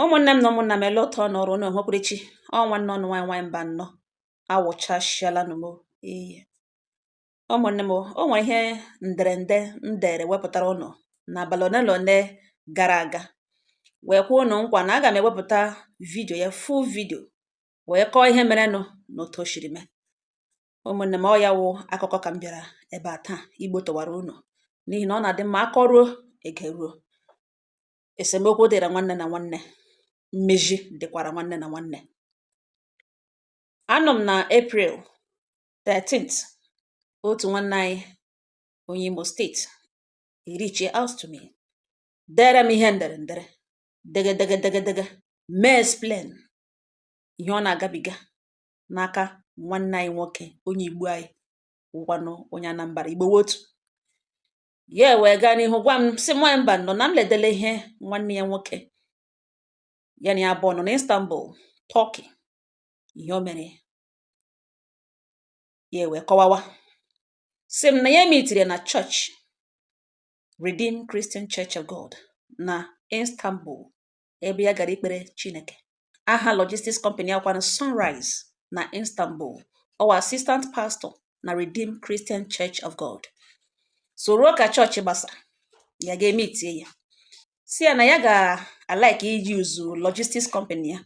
ụmụnne m na ụmụnna m ele otu ọ nọrọ unu enwekwurichi ọ nwanne unu nwaanyị nwaanyị Mbanọ awụchasịala nụ m iyi ụmụnne m o nwere ihe nderede m dere wepụtara unu n'abalị ole na ole gara aga wee kwe unu nkwa na aga m ewepụta vidio ya full video wee kọọ ihe merenụ na otu o siri mee ụmụnne m ọ ya wụ akụkọ ka m bịara ebe a taa ịgbọtọwara unu n'ihi na ọ na-adị mma a kọruo e geruo esemokwu dịra nwanne na nwanne mmezi dịkwara nwanne na nwanne anọ m na april 13th otu nwanne anyị onye imo steeti ereachie out to me dere m ihe ndere ndere degedegedegedege mee explain ihe ọ na-agabiga n'aka nwanne anyị nwoke onye igbo anyị wụkwanụ onye anambra igbo wụ otu ya ewee gaa n'ihu gwa m sị m nwaanyị Mbanọ na m ledele ihe nwanne ya nwoke ya na ya abụọ nọ na Istanbul Turkey ihe o mere ya ewee kọwawa sị m na ya meetiri na chọọchị Redeemed Christian Church of God na Istanbul ebe ya gara ikpere Chineke. Aha logistics company a wụkwanụ Sunrise na Istanbul. Ọ wụ assistant pastor na Redeemed Christian Church of God. So o ruo ka chọọchị gbasa, ya ga emeetie ya. Sị ya na ya ga-alike iji use logistics company ya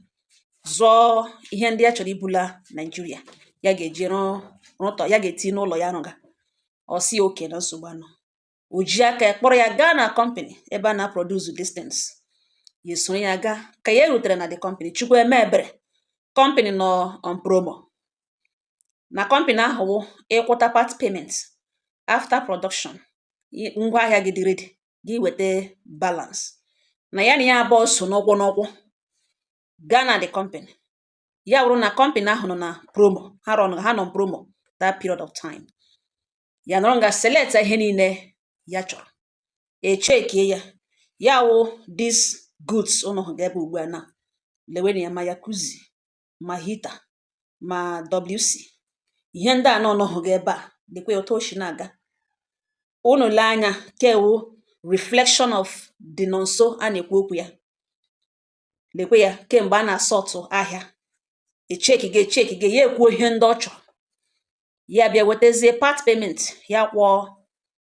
zụọ ihe ndị ya chọrọ ibula Naijiria ya ga-eji rụtọ ya ga-eti n'ụlọ ya rụga. Ọ sị okay na nsogbu anọ. o ji aka ya kpọrọ ya gaa na kọmpani ebe a na-aproduce these things ya esoro ya gaa ka ya rutere na the company chukwu eme ebere kọmpani nọ on promo na kọmpani ahụ wụ ị kwụta part payment after production i- ngwa ahịa gị dị ready gị weta balance na ya na ya abụọ so n'ụkwụ n'ụkwụ gaa na the company ya wụrụ na kọmpani ahụ nọ na promo ha run ha nọ promo that period of time ya nọrọ nga selecta ihe niile ya chọrọ e checkie ya ya wụ these goods unu hụga ebe ugbu a na lewenụ ya ma jacuzzi ma heater ma wc ihe ndị a unu hụga ebe a lekwa otu o si na-aga unu lee anya ke wụ reflection of the Nonso a na-ekwu okwu ya lekwe ya ke mgbe a na-asortụ ahịa e checkiga e checkiga ya ekwuo ihe ndị ọ chọrọ ya bịa wetazie part payment ya kwụọ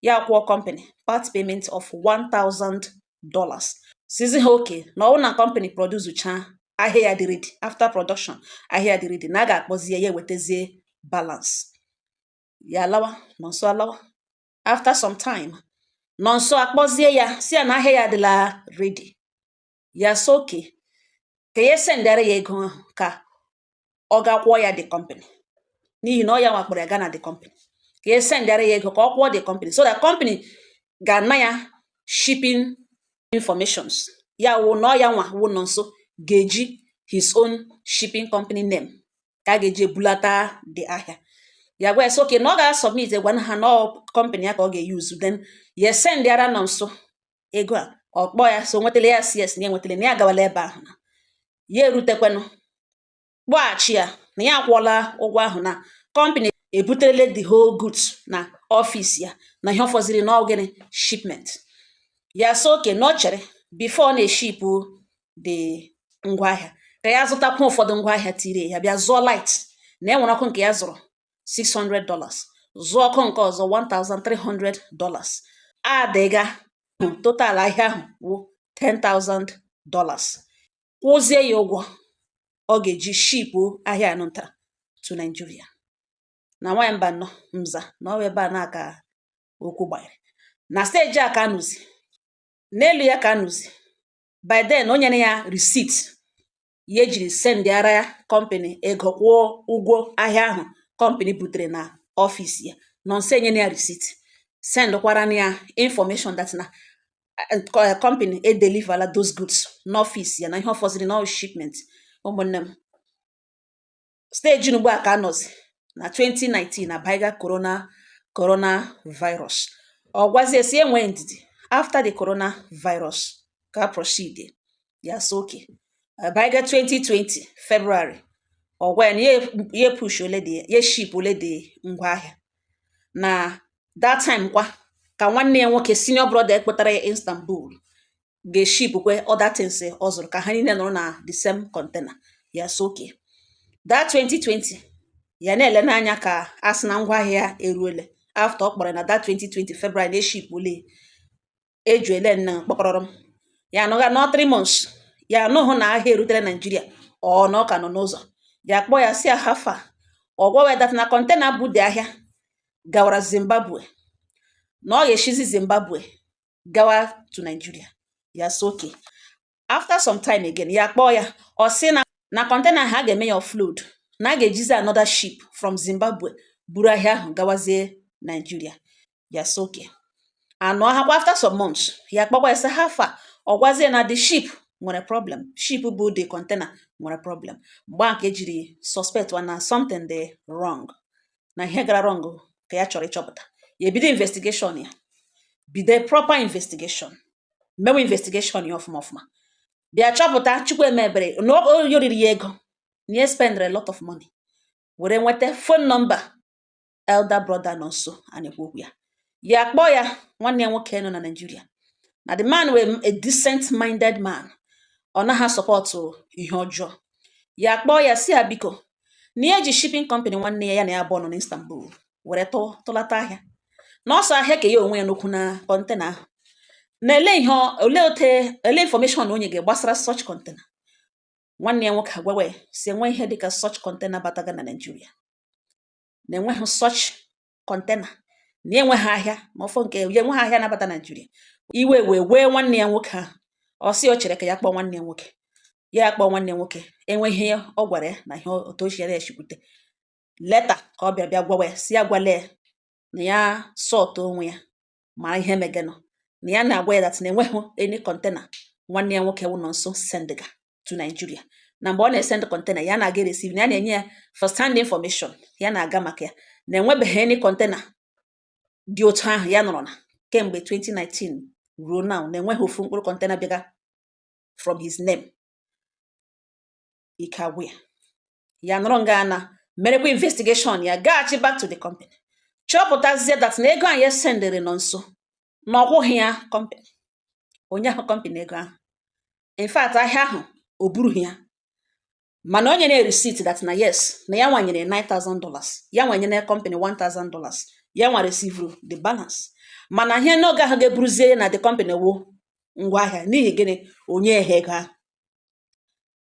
ya kwụọ company part payment of 1000 dollars sịzị ha okay na ọ wụ na company producechaa ahịa ya dị ready after production ahịa dị ready na a ga-akpọzie ya ewetazie balance ya alawa Nonso alawa after some time Nonso akpọzie ya sị ya na ahịa ya adịla ready ya sị okay ka ya sendịara ya ego ahụ ka ọ ga kwụọ ya the company n'ihi na ọ ya nwa kpọrọ ya gaa na the company ka ya sendịara ya ego ka ọ kwụọ the company so that company ga-ana ya shipping informations ya wụ na ọ ya nwa wụ Nọnso ga-eji his own shipping company name ka a ga-eji ebulata the ahịa ya gwa ya sị okay na ọ ga-asọbmit gwa ha na ọ company ya ka ọ ga-eyuzu then ya sendịara Nọnso ego a ọ kpọọ ya sị o nwetala ya sị yes na ya nwetala na ya agawala ebe ahụ na ya erutekwanụ kpọghachi ya na ya akwụọla ụgwọ ahụ na kọmpani ebuterele the whole goods na ọfịs ya na ihe ọ fọziri na ọ gịnị shipment ya sị okay na ọ chere bifo ọ na-eshipụ the ngwaahịa ka ya zụtakwu ụfọdụ ngwaahịa tiri ya bịa zụọ light na e nwere ọkụ nke ya zụrụ 600 dollars zụọ ọkụ nke ọzọ 1300 dollars adịga total ahịa ahụ wụ 10,000 dollars kwụzie ya ụgwọ ọ ga-eji shipu ahịa anụ nta to Nigeria na nwanyị mba nọ mza na ọwa ebe a na-aka okwu gbanyere na steji a ka a nọzi n'elu ya ka a nọzi by then o nyere ya receipt ya jiri sendịara ya kọmpịnị ego kwụọ ụgwọ ahịa ahụ kọmpịnị butere na ọfịs ya Nọnso enyena ya risit sendkwara na ya infọmeshọn dat na kọmpịnị edelivala those goods n'ọfịs ya na ihe ọ fọziri na ọ shipment ụmụnne m steji ugbu a ka a nọzi na 2019 abaịga corona corona virus ọ gwazie sị ya nwee ndidi after the corona virus ka proceed ya sị okay abaịga 2020 February ọ gwa ya na ya pushuole the ya shipuole the ngwa ahịa na that time kwa ka nwanne ya nwoke senior brother a kpọtara ya Istanbul ga-eshipkwe other things ọ zụrụ ka ha niile nọrọ na the same container ya sị okay that 2020 ya na-ele n'anya ka a sị na ngwa ahịa eruele afta ọ kpọrọ na that 2020 February na eshipuole eju ele nna kpọkọrọrọ m ya anọgha nọ 3 months ya anụhụ na ahịa erutere Naijiria ọ na ọ ka nọ n'ụzọ ya kpọọ ya sị how far ọ gwawa ya dat na kọntena bu the ahịa gawara Zimbabwe na ọ ga-eshizi Zimbabwe gawa to Nigeria ya sị okay after some time again ya kpọọ ya ọ sị na kọntena ahụ a ga-eme ya offload na a ga-ejizi another ship from Zimbabwe buru ahịa ahụ gawazie Nigeria ya sị okay a nọhakwa after some months ya kpọkwa ya sị how far ọ gwazie na the ship nwere problem ship bu the container nwere problem mgbe a ka ya jiri suspectịwa na something dị wrong na ihe gara wrong ka ya chọrọ ịchọpụta ya ebido investigation ya bido proper investigation mewe investigation ya ọfụma ọfụma bịa chọpụta chukwu emebere ya o riri ya ego na ya spendere lot of money were nweta phone number elder brother Nonso a na-ekwu okwu ya ya akpọọ ya nwanne ya nwoke nọ na Naịjirịa na the man were a decent minded man ọ naghị sọpọtụ ihe ọjọọ ya kpọọ ya si ya biko na ya ji shipping company nwanne ya ya na ya abụọ nọ na Istanbul were tụlata ahịa na ọ sị ahịa ka ya onwe ya nọkwụ na container ahụ na ele ihe ole ote ele information na o nyega gbasara such container nwanne ya nwoke agwawa ya si enweghị ihe dịka such container bataga na Naịjirịa na enweghị such container na enweghị ahịa ma ọ fọ nke ya enweghị ahịa na-abata Naịjirịa iwe wee wee nwanne ya nwoke ahụ ọ sị o chere ka ya kpọọ nwanne ya nwoke ya kpọọ nwanne ya nwoke enweghị ihe ọ gwara ya na ihe otu ochie ya echikwute later ka ọ bịa bịa gwawa ya si ya gwale na ya sọtụ onwe ya mara ihe megenụ na ya na-agwa ya that na enweghị any container nwanne ya nwoke wụ Nonso sendịga to Nigeria na mgbe ọ na-esend container ya na-aga ereceive na ya na-enye ya first hand information ya na-aga maka ya na enwebeghị any container dị otu ahụ ya nọrọ na kemgbe 2019 ruo now na enweghị ofu mkpụrụ container bịaga from his name ike agwụ ya ya nọrọ nga na merekwa investigation ya gaghachi back to the company chọpụtazie that na ego ahụ ya sendịrị Nonso na ọ kwụghị ya company o nyeghị company ego ahụ in fact ahịa ahụ o burughị ya mana o nyere ya receipt that na yes na ya nwa nyere 9000 dollars ya nwa nyere company 1000 dollars ya nwa resivuru the balance mana ihe n'oge ahụ ga-eburuzie na the company wo ngwa ahịa n'ihi gịnị o nyeghị ego ahụ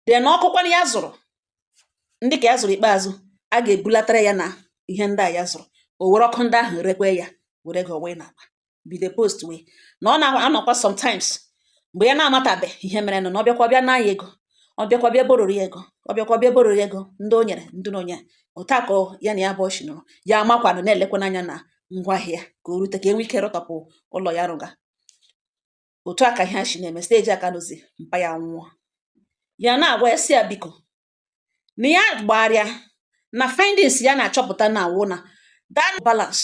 then ọkụkwanụ ya zụrụ ndị ka ya zụrụ ikpeazụ a ga-ebulatara ya na ihe ndị a ya zụrụ o were ọkụ ndị ahụ rekwe ya were ego wee n'akpa bido postwe ya na ọ na-anọkwa sometimes mgbe ya na-amatabeghị ihe mere na ọ bịakwa bịa na ya ego ọ bịakwa bịa bororo ya ego ọ bịakwa bịa bororo ya ego ndị o nyere ndị na o nyeghị otu a ka ya na ya abụọ si nọrọ ya amakwanụ na-elekwanụ anya na ngwaahịa ka o rute ka enwe ike rụtọpụ ụlọ ya rụga otu a ka ihe a si na-eme steji a ka a nọzi mpa ya nwụọ ya na-agwa ya si ya biko na ya gbarịa na findings ya na-achọpụta na ọ wụ na that balance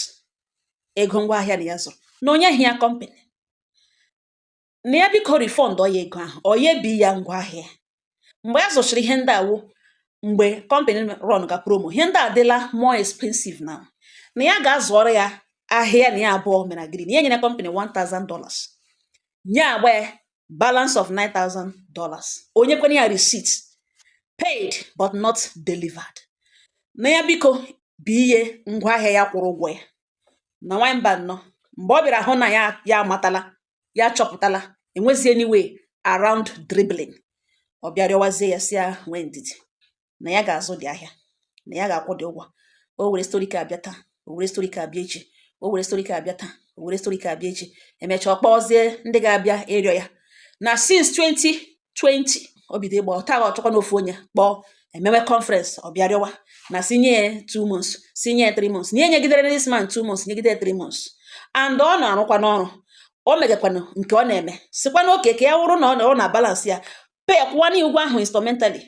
ego ngwa ahịa na ya zụrụ na o nyeghị ya company na ya biko refundụọ ya ego ahụ or ya bi ya ngwa ahịa mgbe a zụchara ihe ndị a wụ mgbe kọmpanị rọn ga promo ihe ndị a adịla more expensive now na ya ga-azụọrọ ya ahịa na ya abụọ mere agree na ya nyere kọmpanị 1000 dollars nye agba ya balance of 9000 dollars o nyekwane ya receipt paid but not delivered na ya biko bụ ihe ngwa ahịa ya kwụrụ ụgwọ ya na nwamba nnọọ mgbe ọ bịara hụ na ya ya amatala ya chọpụtala enwezi any way around dribbling ọ bịa rịọwazie ya sị ya nwee ndidi na ya ga-azụdị ahịa na ya ga-akwụdị ụgwọ o were story ka abịa taa o were story ka abịa echi o were story ka abịa taa o were story ka abịa echi emechaa ọ kpọzie ndị ga-abịa ịrịọ ya na since 20 20 o bido ịgba ọta ọ chọkwa na ofu onye kpọọ emewe conference ọ bịa rịọwa na sị nye ya two months sị nye ya three months na e nyegidere this man two months nyegide ya three months and ọ na-arụkwanụ ọrụ o megakwanụ nke ọ na-eme sịkwanụ okay ka ya wụrụ na ọ na balance ya pay kwụwa na ụgwọ ahụ instalmentally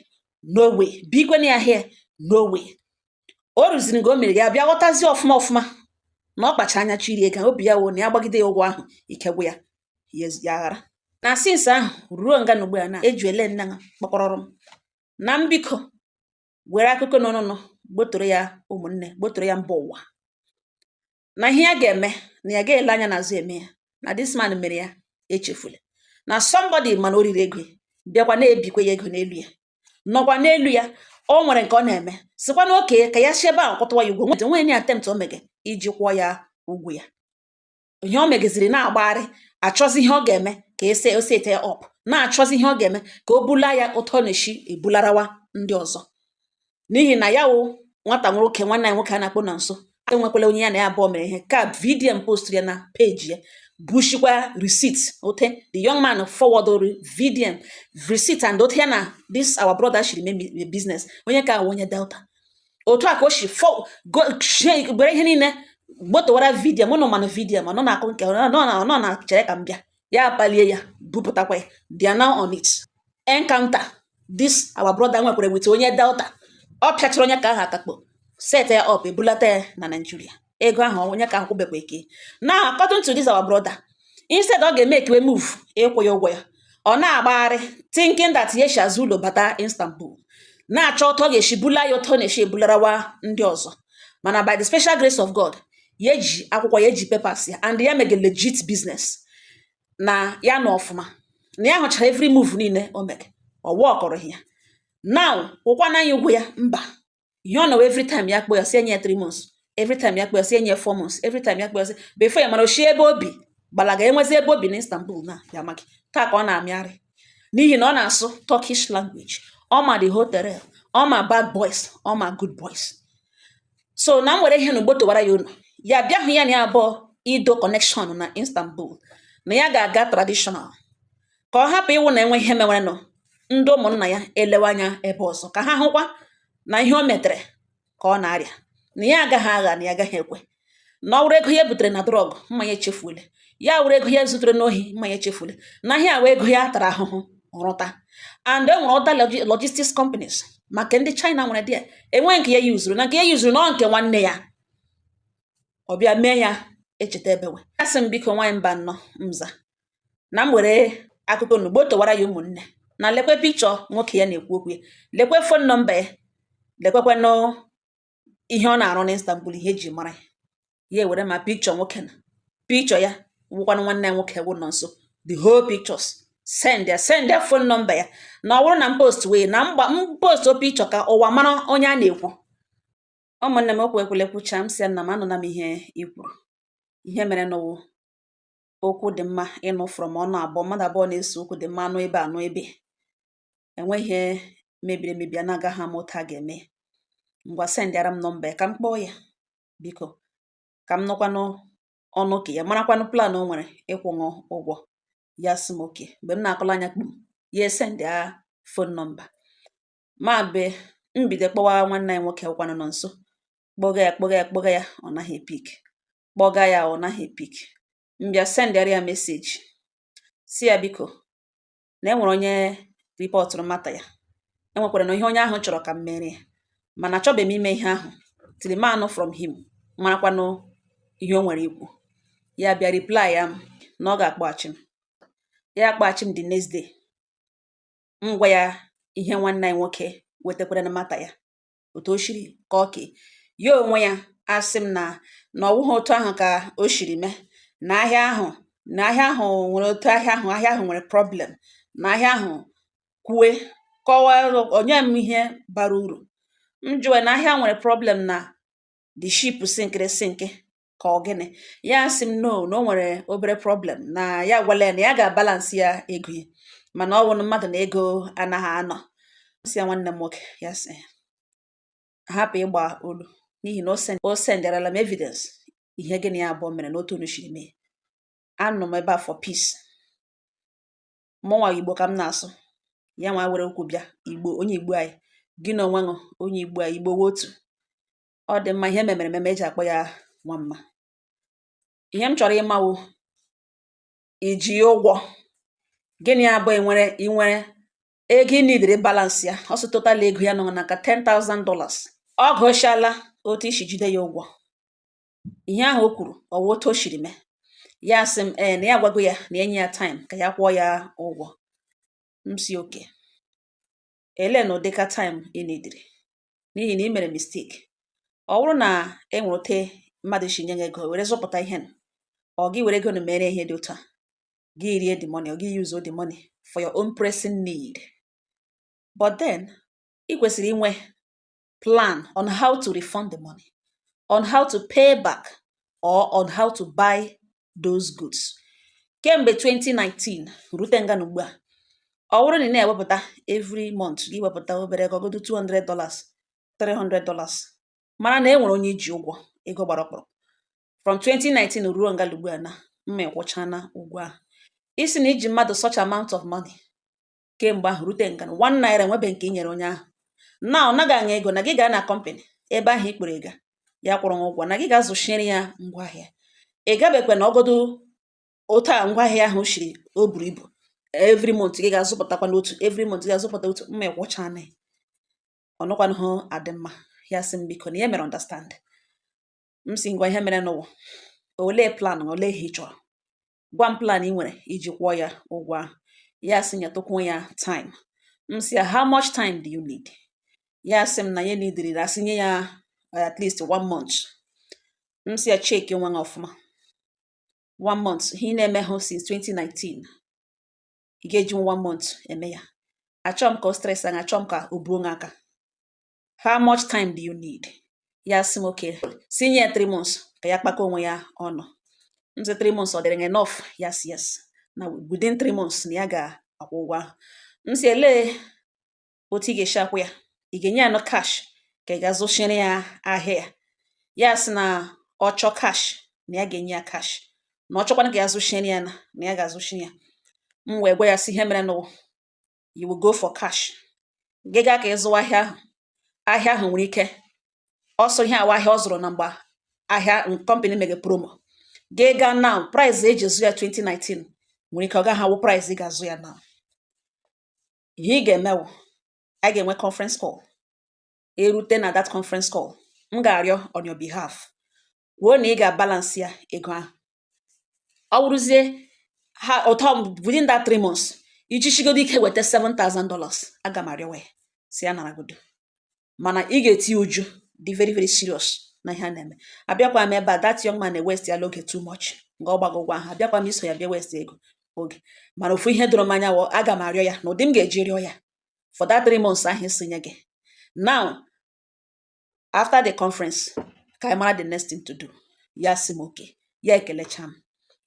no way bikwe na ya here no way o ruziri nga o mere ya bịa ghọtazie ọfụma ọfụma na ọ kpacha anya chọọ iri ego obi ya wụ na ya gbagide ya ụgwọ ahụ ike gwụ ya ya ezi- ya aghara na since ahụ ruo nga a nọ ugbu a na eju ele nna ha kpọkọrọrọ m na m biko were akụkọ n'ọnụnụ gbotoro ya ụmụnne gbotoro ya mba ụwa na ihe ya ga-eme na ya ga-ele anya n'azụ eme ya na this man mere ya echefula na somebody mana o riri ego bịakwa na-ebikwa ya ego n'elu ya nọkwa n'elu ya o nwere nke ọ na-eme sịkwanụ okay ka ya si ebe ahụ kwụtụwa ya ụgwọ nweta nwee any attempt o mege iji kwụọ ya ụgwọ ya ihe o megaziri na-agbagharị achọzi ihe ọ ga-eme ka ese o set ya up na-achọzi ihe ọ ga-eme ka o bula ya otu ọ na-esi ebularawa ndị ọzọ n'ihi na ya wụ nwata nwoke nwanne anyị nwoke a na-akpọ nonso enwekwala onye ya na ya abụọ mere ihe ka vidiyo post ya na peji ya bushikwa receipt ote the young man forwarded vidiyo receipt and otu ya na this our brother shiri mee business onye ka wụ onye delta otu a ka o si gbere ihe niile gbotowara vidiyo mụ na ụmanụ vidiyo ma nọ na-akụ nke nọ na chere ka m bịa ya akpalie ya bupụtakwa ya they are now on it encounter this our brother nwekwara with onye delta ọ pịachara onye ka ahụ akakpo set ya up ebulata ya na naijiria ego ahụ onye ka ahụ kwụbekwa ike na according to this our brother instead ọ ga-emekewe move ịkwụ ya ụgwọ ya ọ na-agbagharị thinking that ya shi azụ ụlọ bata istanbul na-achọ otu ọ ga-esi bula ya otu ọ na-esi ebularawa ndị ọzọ mana by the special grace of god ya ji akwụkwọ ya ji papers ya and ya mege legit business na ya nọ ọfụma na ya hụchara every move niile o mege ọ wọkọrọ ya now ụkwana anyị ụgwọ ya mba ihe ọ nọwa every time ya kpọ ya sị e nye ya 3 months every time ya kpọ ya sị e nye ya 4 months every time ya kpọ ya sị before ya mara o shi ebe o bi gbalaga enwezi ebe o bi na Istanbul na ya amaghị taa ka ọ na-amịarị n'ihi na ọ na-asụ Turkish language ọ ma the hotel ọ ma bad boys ọ ma good boys so na m were ihe na ugbo towara ya ụlọ ya bịa hụ ya na ya abụọ ido connection na Istanbul na ya ga-aga traditional ka ọ hapụ ịwụ na e nwee ihe mewerenụ ndị ụmụnna ya elewe anya ebe ọzọ ka ha hụkwa na ihe o metere ka ọ na-arịa na ya agaghị agha na ya agaghị ekwe na ọ wụrụ ego ya butere na drug mma ya echefuole ya wụrụ ego ya zutere n'ohi mma ya echefuole na ihe a wụ ego ya tara ahụhụ rụta and e nwere other logistics companies maka ndị China nwere dị enweghị nke ya yuzuru na nke ya yuzuru n'ọ nke nwanne ya ọ bịa mee ya echeta ebewe asị m biko nwaanyị mba nnọ mza na m were akụkọ n'ugbo towara ya ụmụnne na lekwe pikchọ nwoke ya na-ekwu okwu ya lekwe fon nọmba ya lekwekwanụ ihe ọ na-arụ n'Istanbul ihe e ji mara ya ya ewere ma pikchọ nwoke na pikchọ ya wụkwanụ nwanne ya nwoke wụ Nonso the whole pictures sendịa sendịa fon nọmba ya na ọ bụrụ na m postuwe na m postuo pikchọ ka ụwa mara onye a na-ekwu ụmụnne m okwu ekwule kwucha m sị ya nna m anụla m ihe i kwuru ihe merenụ wụ okwu dị mma ịnụ from ọnụ abụọ mmadụ abụọ na-ese okwu dị mma a nụ ibe a nụ ibe enwe ihe mebiri emebi a na-agaghị ama otu a ga-eme ngwa sendịara m nọmba ya ka m kpọọ ya biko ka m nụkwanụ ọnụ ka ya marakwanụ plan o nwere ịkwụnụ ụgwọ ya sị m okay mgbe m na-akọla anya kpum ya esendịa fon nọmba ma be m bido kpọwa nwanne anyị nwoke wụkwanụ Nonso kpọga ya kpọga ya kpọga ya ọ naghị epik kpọga ya ọ naghị epik m bịa sendịara ya meseji sị ya biko na e nwere onye ripọtụrụ mata ya e nwekwaranụ ihe onye ahụ chọrọ ka m mere ya mana achọbeghị m ime ihe ahụ till m anụ from him marakwanụ ihe o nwere ikwu ya bịa replyịa m na ọ ga-akpọghachi m ya akpọghachi m the next day m gwa ya ihe nwanne anyị nwoke wetakwara na mata ya otu o shiri kọọ ke ya onwe ya asị m na na ọ wụghị otu ahụ ka o shiri mee na ahịa ahụ na ahịa ahụ nwere otu ahịa ahụ ahịa ahụ nwere problem na ahịa ahụ kwue kọwaa nye m ihe bara uru m jụwe na ahịa nwere problem na the ship sinkịrị sinkị ka ọ gịnị ya asị m no na o nwere obere problem na ya gwala ya na ya ga-abalansị ya ego ya mana ọ wụrụ mmadụ na ego anaghị anọ sị ya nwanne m nwoke ya sị hapụ ịgba olu n'ihi na o senderela m evidence ihe gị na ya abụọ mere na otu unu shiri mee anọ m ebe a for peace mụnwa igbo ka m na-asụ ya nwa were okwu bịa igbo onye igbo anyị gị n'onwe wụ onye igbo anyị igbo wụ otu ọ dị mma ihe memere ememe eji akpọ ya nwa mma ihe m chọrọ ịma wụ i ji ya ụgwọ gị na ya abụọ e nwere i nwere ego ị nidiri balansị ya ọ sị total ego ya nọ n'aka $10,000 ọ gụchala otu i shi jide ya ụgwọ ihe ahụ o kwuru ọ wụ otu o shiri mee ya sị m ee na ya agwago ya na e nye ya time ka ya kwụọ ya ụgwọ m sị okay elee na ụdịka time ị nidiri n'ihi na ị mere mistake ọ wụrụ na e nwere otu mmadụ si nye gị ego were zụpụta ihe ọ gị were ego na mere ihe dị otu a gị rie the money or gị use the money for your own pressing need but then ị kwesịrị inwe plan on how to refund the money on how to pay back or on how to buy those goods kemgbe 2019 rute nga a nọ ugbu a ọ wụrụ na ị na-ewepụta every month gị wepụta obere ego godu 200 dollars 300 dollars mara na e nwere onye i ji ụgwọ ego gbara ọkpụrụ from 2019 ruo nga a nọ ugbu a na mma ị kwụchana ụgwọ ahụ ị sị na i ji mmadụ such amount of money kemgbe ahụ rute nga a na one naira enwebe nke i nyere onye ahụ na ọ naghị ana ego na gị gaa na company ebe ahụ i kwuru ga ya kwụrụ ụgwọ na gị ga-azụchiere ya ngwaahịa ị gabekwe na ọgọdụ otu a ngwaahịa ahụ shiri o buru ibu every month gị ga-azụpụtakwanụ otu every month gị ga-azụpụta otu mma ị kwụchana ọ nakwanụhụ adị mma ya sị m biko na ya mere understand m sị ngwa ihe mere n'ụwa olee plan olee ihe ị chọrọ gwa m plan i nwere iji kwụọ ya ụgwọ ahụ ya sị nyetụkwuo ya time m sị ya how much time do you need ya sị m na ya nidiri a sị nye ya uh, at least one month m sị ya cheki onwe ya ọfụma one month ihe ị na-emehụ since 2019 ị ga-eji one month eme ya achọghị m ka o stress anya achọghị m ka o buo aka how much time do you need ya sị m okay sị nye ya three months ka ya kpakọ onwe ya ọnụ m sị three months ọ dịrị gị enough ya sị yes na within three months na ya ga-akwụ ụgwọ ahụ m sị elee otu ị ga-esi akwụ ya ị ga-enye ya na cash ka ị ga-azụchiri ya ahịa ya ya sị na ọ chọọ cash na ya ga-enye ya cash na ọ chọkwana ka ya zụchiri ya na na ya ga-azụchi ya m wee gwa ya sị ihe mere n'ụwa you will go for cash gị gaa ka ị zụwa ahịa ahụ ahịa ahụ nwere ike ọ sị ihe a wụ ahịa ọ zụrụ na mgbe ahịa company mege promo gị gaa now price e ji zụ ya 2019 nwere ike ọ gaghị awụ price ị ga-azụ ya now ihe ị ga-eme wụ anyị ga-enwe conference call e rute na that conference call m ga-arịọ on your behalf kwuo na ị ga-abalance ya ego ahụ ọ wụrụzie ha ụtọ within that three months i jichigodo ike weta $7,000 aga m arịọwa ya sị ya naragodo mana ị ga-eti uju dị very very serious na ihe a na-eme abịakwa m ebe a that young man na-ewaste ya oge too much nga ọ gbago ụgwọ ahụ abịakwa m iso ya bịa waste ego oge mana ofu ihe doro m anya wụ aga m arịọ ya na ụdị m ga-eji rịọ ya for that three months ahụ ị sị nye gị now after the conference ka anyị mara the next thing to do ya sị m okay ya ekelecha m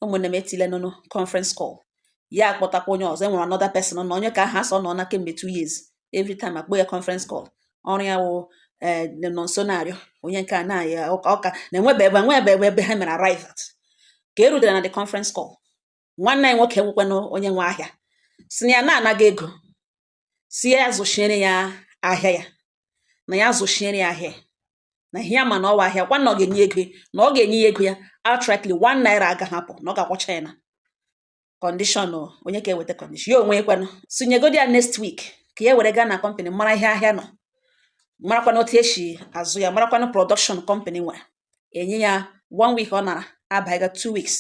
ụmụnne m etile nụnụ conference call ya akpọtakwa onye ọzọ enwere another person na onye ka aha sọ nọ na kemgbe two years every time a kpọọ ya conference call ọrụ ya wụ eh, nọ nso na-arịọ onye nke a na-aya ọka na enwebe ebe enwebe ebe ebe ha mere arrive at ka e rutere na the conference call nwanne anyị nwoke nwekwanụ onye nwe ahịa sị na ya na-anaghị ego sị ya zụchiere ya ahịa ya na ya zụchiere ya ahịa na ihe ya ma na ọ wụ ahịa kwa na ọ ga-enye ego ya na ọ ga-enye ya ego ya outrightly one naira agaghị apụ na ọ ga-akwụcha ya na condition onye ka eweta condition ya onwe ekwenụ sị nyegodi ya next week ka ya were gaa na company mara ihe ahịa nọ marakwana otu e si azụ ya marakwana production company nwere enye ya one week ọ nara abaiga two weeks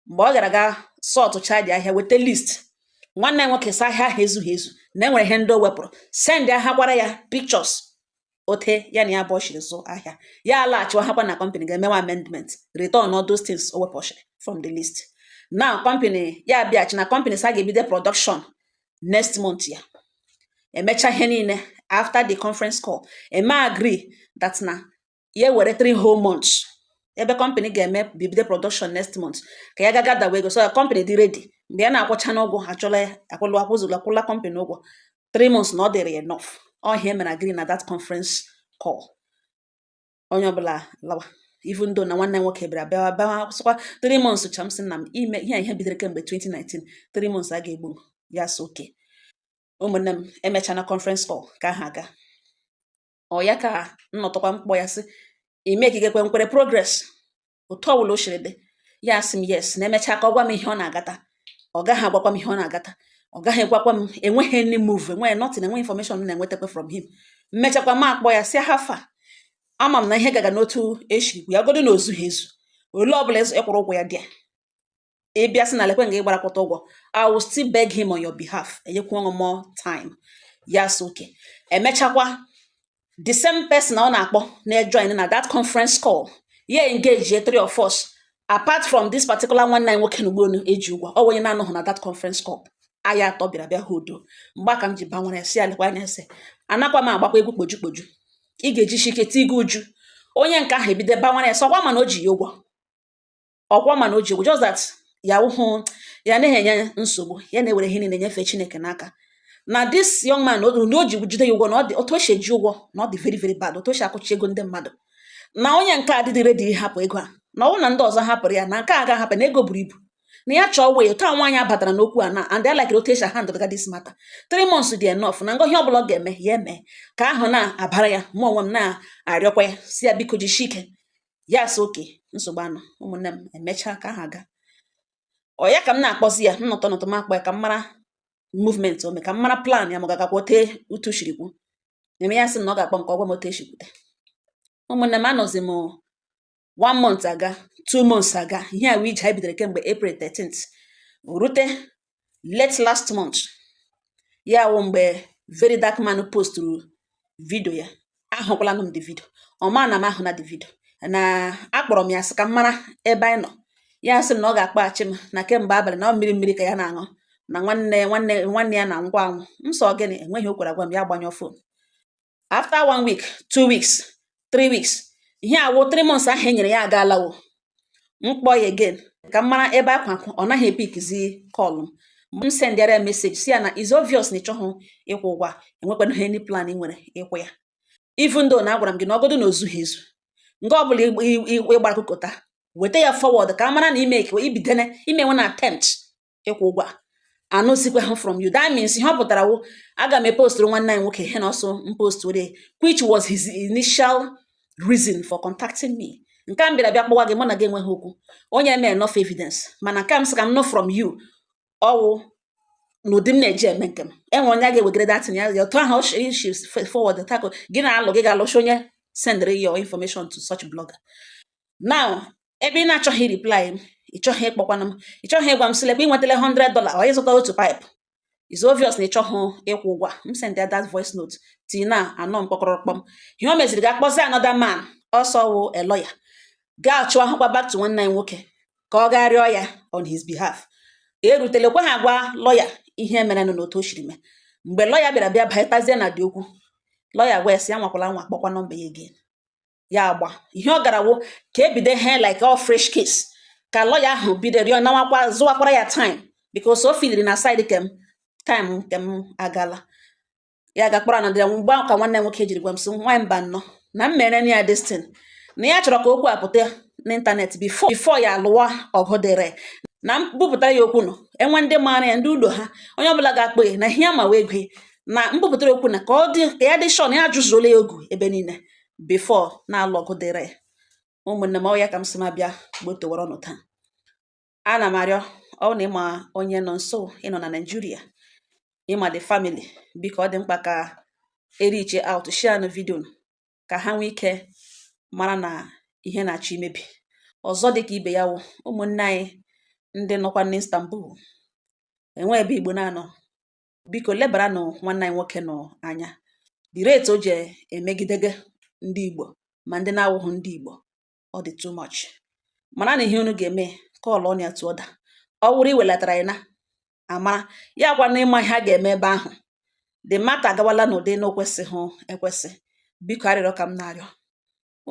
mgbe ọ gara ga sortchaa the ahịa weta list nwanne ya nwoke sị ahịa ahụ ezughị ezu na enwere ihe ndị o wepụrụ sendịkwara ya pictures otu ya na ya bụ ọchịrị zụ ahịa ya alaghachiwa hakwa na company gaa mewe amendment return all those things o wepụchara from the list na company ya abịachi na company sị a ga-ebido production next month ya emecha ihe niile after the conference call e mee agree that na ya ewere three whole months ebe company ga-eme bibido production next month ka ya gaga dawa ego so ya company dị ready mgbe ya na-akwụcha n'ụgwọ ha chọla ya akwụlụ akwụzụlụ akwụla company ụgwọ three months na ọ dịrị ya enough ọ ihe e mere agree na that conference call onye ọbụla lawa even though na nwanne nwoke bịara bịawa bịawa sịkwa three months cha m sị na m ime ihe a ihe bidoro kemgbe 2019 three months agaghị egbu m ya sị okay ụmụnne m emechana conference call ka ha aga ọ ya ka nnọtakwa m kpọọ ya sị ị makegekwe nkwere progress otu ọbụla o siri dị ya asị m yes na e mechaa ka ọ gwa m ihe ọ na-agata ọ gaghị agwakwa m ihe ọ na-agata ọ gaghị agwakwa m enweghị any move enweghị nothing enweghị information m na-enwetakwa from him mmechakwa m akpọ ya sị how far ama m na ihe gaga n'otu e shi ya godo na o zughị ezu ole ọbụla ị kwụrụ ụgwọ ya dị ya ị bịa sị na lekwe nga ị gbarakwata ụgwọ I will still beg him on your behalf enyekwanụ more time ya sị oke emechakwa the same person ọ na-akpọ na-ejoin na that conference call ya engage three of us apart from this particular nwanne anyị nwoke na ugbonu eji ụgwọ o nwe onye na-anọghị na that conference call anyị atọ bịara bịa ha udo mgbe aka m ji banwere si alekwa anya ese anakwa m agbakwa egwu kpoju kpoju ị ga-eji ike tii gị uju onye nke ahụ ebido banwere ese ọkwa ma na o ji ya ụgwọ ọkwa ma na o ji ụgwọ just that ya wụhụ ya anaghị enye nsogbu ya na-ewere ihe niile nyefee Chineke n'aka na this young man na o ji jide ya ụgwọ na ọ dị otu o si eji ụgwọ na ọ dị very very bad otu o si akụchi ego ndị mmadụ na onye nke a dịdị ready ịhapụ ego a na ọ bụrụ na ndị ọzọ hapụrụ ya na nke a ga-ahapụ na ego buru ibu na ya chọọ wee taa nwaanyị abatara n'okwu a na and I like otu esi handle ga this matter three months dị enough na ngọhịa ọbụla ọ ga-eme ya eme ka ahụ na-abara ya mụ onwe m na-arịọkwa ya sị ya biko jisie ike ya asị oke nsogbu anọ ụmụnne m emechaa ka ha ga ọ ya ka m na-akpọzi ya m nọtụ nọtụ m akpọ ya ka m mara movement o me ka m mara plan ya ma ọ ga-agakwa ote otu e shiri kwuo eme ya sị na ọ ga-akpọ m ka ọ gwa m otu e shi kwute ụmụnne m anọzi m one month aga two months aga ihe a wụ ije anyị bidoro kemgbe April 13th rute late last month ya wụ mgbe Very Dark Man postụrụ vidio ya ahụkwala m the vidio ọ ma na m ahụna the vidio na akpọrọ m ya sị ka m mara ebe anyị nọ ya sị m na ọ ga-akpọghachi m na kemgbe abalị na ọ mmiri mmiri ka ya na-aṅụ na nwanne nwanne nwanne ya na ngwa anwụ m sị ọ gịnị enweghị o kwere agwa m ya gbanyụọ fon after one week two weeks three weeks ihe a wụ three months ahụ e nyere ya agaalawo m kpọọ ya again ka m mara ebe a kwụ ọ naghị epickizi call m sendịara ya message sị ya na is obvious na ị chọghị ịkwụ ụgwọ enwekwana any plan ị nwere ịkwụ ya even though na agwara m gị na ọ godu na o zughị ezu nke ọ bụla ị gbara kụkọta weta ya forward ka a mara na ime ka ibidene imenwe na attempt ịkwụ ụgwọ a anụzikwaha from you that means ihe ọ pụtara wụ aga m epostụrụ nwanne anyị nwoke ihe na ọ sị m postụrụ which was his initial reason for contacting me nke a m bịara bịa kpọwa gị mụ na gị enweghị okwu o nyere m enough evidence mana nke m sị ka m nụ from you ọ wụ n'ụdị m na-eji eme nke m enwe onye a ga-ewegara that thing ya otu ahụ straight forward tako gị na-alụ gị ga-alụcha onye sendịrị your information to such blogger now ebe ị na-achọghị reply m ị chọghị ịkpọkwana m ị chọghị ịgwa m sị lekwa ị nwetala 100 dollar or ịzụta otu pipe is obvious na ị chọghị ịkwụ ụgwọ a. m send ya that voice note tii na anọ m kpọkọrọ kpọm ihe o meziri ga kpọzie another man ọ sị wụ a lawyer gachighakwa back to nwanne anyị nwoke ka ọ gaa rịọ ya on his behalf erutelekwa ha gwa lọya ihe merenụ na otu o siri mee mgbe lọya bịara bịa batazie na the okwu lọya wee sị ya anwakwala anwa kpọkwa nọmba ya again ya agba ihe ọ gara wụ ka ebido ihe like all fresh case ka lawyer ahụ bido rịọ nawakwa zụwakwara ya time because o filiri na side kem time nke m agala ya gakpọrọ anọdụ ya mgbe ahụ ka nwanne nwoke jiri gwa m sị nwa mba nnọọ na m mere ya destin na ya chọrọ ka okwu a pụta n'ịntanetị before before ya alụwa ọgụ dịrị na m bupụtara ya okwu nọ enwe ndị maara ya ndị ụlọ ha onye ọbụla ga-akpọ ya na ihe ya ma wee gwe na m bupụtara okwu na ka ọ dị ka ya dị sure na ya ajụzuola ya ogu ebe niile before na-alụ ọgụ dịrị ụmụnne m ọ ya ka m sị m abịa gbotowara unu taa ana m arịọ ọ na ị ma onye Nọnso ị nọ na Naijiria ị ma the family biko ọ dị mkpa ka e reach out share nụ vidio ka ha nwee ike mara na ihe na-achọ imebi ọzọ dịka ibe ya wụ ụmụnne anyị ndị nọkwa n'Istanbul e nwe ebe Igbo na-anọ biko lebaranụ nwanne anyị nwoke nọ anya the rate o ji emegidege ndị Igbo ma ndị na-awụghị ndị Igbo ọ dị too much mara na ihe unu ga-eme callụọ nụ ya to order ọ wụrụ iwelatara ya na amara ya gwa na ị ma ihe a ga-eme ebe ahụ the matter agawala n'ụdị na o kwesịghị ekwesị biko arịrịọ ka m na-arịọ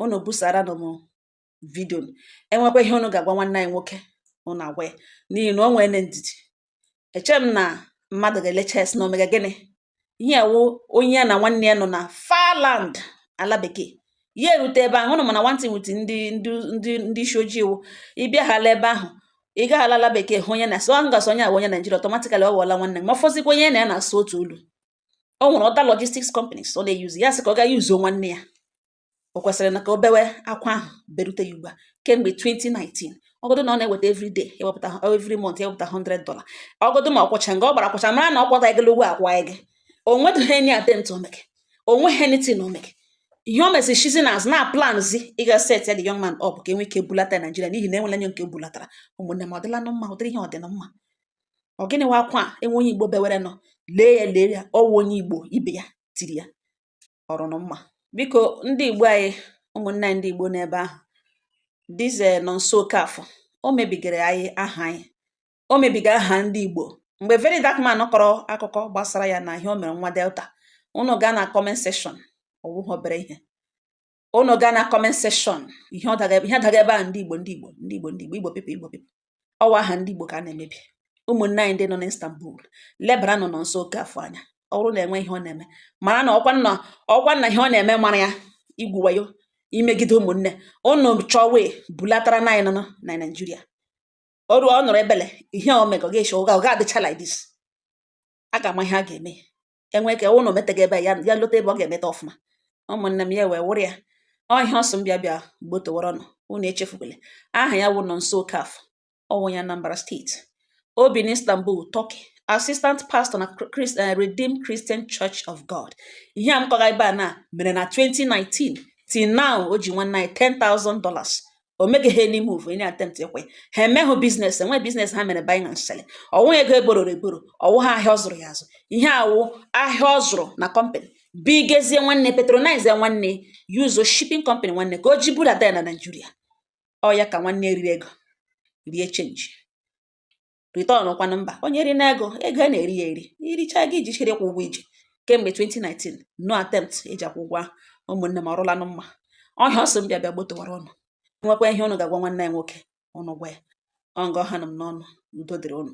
unu busara nụ m vidio e nwekwa ihe unu ga-agwa nwanne anyị nwoke unu agwa ya n'ihi na o nwere ndidi eche m na mmadụ ga-elecha ya sị na o mega gịnị ihe wụ onye ya na nwanne ya nọ na far land ala bekee ya erute ebe ahụ unu ma na nwantị nwute ndị ndị ndị isi ojii iwu ịbịa hala ebe ahụ ị gaghala ala bekee hụ onye na-asụ ahụ gasị onye a wụ onye Naijiria automatically ọ ghọọla nwanne ma fọzikwa onye na ya na-asụ otu olu o nwere other logistics companies ọ na-eyuzi ya sị ka ọ ga yuzuo nwanne ya o kwesịrị na ka o bewe akwa ahụ berute ya ugbu a kemgbe 2019 ọgụdụ na ọ na-eweta every day ewepụta every month ewepụta 100 dollar ọgụdụ ma ọ kwụcha nga ọ gbara akwụcha mara na ọ kwụta gị ụgwọ akwa gị o nwedịghị any attempt o meke o nweghị anything o meke ihe o mesịrị shizi n'azụ na planzi ịga set ya the young man up ka e nwee ike bulata ya Naijiria n'ihi na e nwere onye nke bulatara ụmụnne m ọ dịla nụ mma ụdịrị ihe ọ dị na mma ọ gịnị wa akwa a enwe onye Igbo bewere nọ lee ya lee ya ọ wụ onye Igbo ibe ya tiri ya ọ rụ nụ mma biko ndị igbo anyị ụmụnne anyị ndị igbo n'ebe ahụ this eh, Nọnso Okafọ o mebigara anyị aha anyị o mebiga aha ndị igbo mgbe very dark man kọrọ akụkọ gbasara ya na ihe o mere nwa delta unu gaa na comment section ọ wụghị obere ihe unu gaa na comment section ihe ọ daga ihe daga ebe a ndị igbo ndị igbo ndị igbo ndị igbo igbo people igbo people ọ wụ aha ndị Igbo ka a na-emebi ụmụnne anyị ndị nọ n'Istanbul lebara nụ Nọnso Okafọ anya ọ bụrụ na e nwe ihe ọ na-eme mara na ọkwa nna ọkwa nna ihe ọ na-eme mara ya igwu wayo imegide ụmụnne unu chọwe bulatara na anyị nọ na Naịjirịa ọrụ ọ nọrọ ebele ihe o mega ọ ga-eshi ọ ga-adịcha like this a ga-ama ihe a ga-eme enwe ka ụnụ metaghị ebe ya ya lota ebe ọ ga-emeta ọfụma ụmụnne m ya wee wụrụ ya ọ ihe ọ sị m bịa bịa gbotowara ụnụ unu echefukwele aha ya wụ Nonso Okafọ ọ wụ onye Anambra steeti o bi n'Istanbul Turkey assistant pastor na Christ, uh, Redeemed Christian Church of God ihe a m kọga ebe a na mere na 2019 till now o ji nwanne anyị 10,000 dollars o meghị ha any move any attempt ịkwụ ya ha emeghụ biznes enwe biznes ha mere buying and selling ọ wụ ego e bororo eboro ọ wụ ha ahịa ọ zụrụ ya azụ ihe a wụ ahịa ọ zụrụ na company bugazie nwanne patronize nwanne use shipping company nwanne ka o ji budata ya na Naịjirịa ọ ya ka nwanne riri ego rie chenji return kwanụ mba onye ri na ego ego a na-eri ya eri i richa gị ejichere ịkwụ ụgwọ i ji kemgbe 2019 no attempt e ji akwụ ụgwọ ahụ ụmụnne m ọ rụlanụ mma ọ ihe ọ sị m bịa bịa gbotowara ụnụ e nwekwa ihe ụnụ ga-agwa nwanne ya nwoke ụnụ gwa ya ọ nga ọ hanụ m n'ọnụ udo dịrị ụnụ